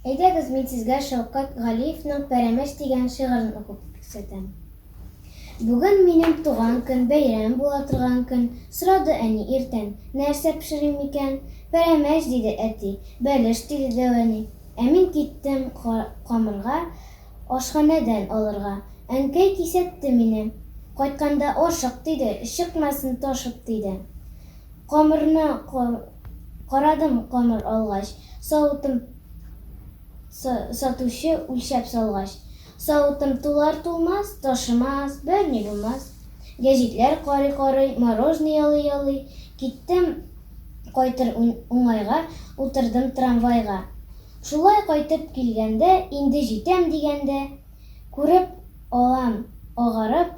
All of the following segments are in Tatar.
Әйдәгез, мин сезгә Шәүкәт Галиевның Пәрәмәч дигән шигырен укып күрсәтәм. Бүген минем туган көн, бәйрәм була торган көн, сорады әни иртән, нәрсә пешерим микән? Пәрәмәч, диде әти, бәлеш, диде дәү әни. Ә мин киттем камырга Ашханәдән алырга. Әнкәй кисәтте мине. Кайтканда ашык, диде, Чыкмасын ташып, диде. Камырны карадым Камыр алгач, савытым Сатучы үлчәп салгач. Савытым тулар-тулмас, Ташымас, берни булмас. Гәҗитләр карый-карый, Морожный ялый-ялый, Киттем кайтыр уңайга утырдым трамвайга. Шулай кайтып килгәндә, инде җитәм дигәндә, күреп алам, агарып,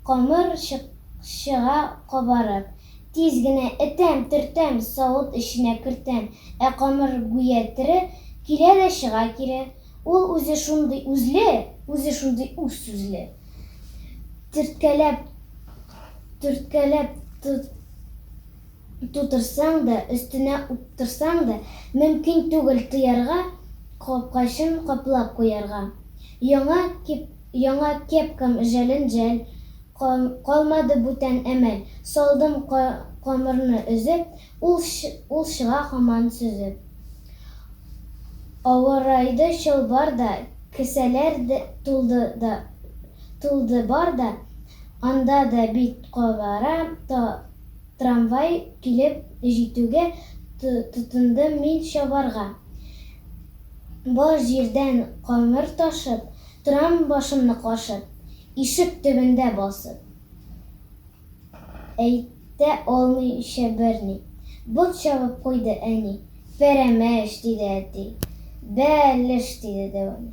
камыр чыга кабарып. Тиз генә этәм, төртәм, савыт эченә кертәм, ә камыр гүя тере, килә дә чыга кире. Ул үзе шундый үзле, үзе шундый үз сүзле. Төрткәләп, төрткәләп, тутырсаң да, өстенә уптырсаң да, мөмкин түгел тыярга, капкачын каплап куярга. Яңа кип, яңа кепкам жәлен жәл, ка, калмады бүтән әмәл, салдым ка, камырны өзеп, ул, ул чыга һаман сөзеп. Авырайды чалбар да, кесәләр тулды да, тулды бар да, анда да бит кабара, та, Трамвай килеп җитүгә тотындым мин чабарга. Бар җирдән камыр ташып, торам башымны кашып, ишек төбендә басып. Әйтә алмыйча берни. Бот чабып куйды әни. Пәрәмәч, диде әти. Бә-леш, диде дәвами.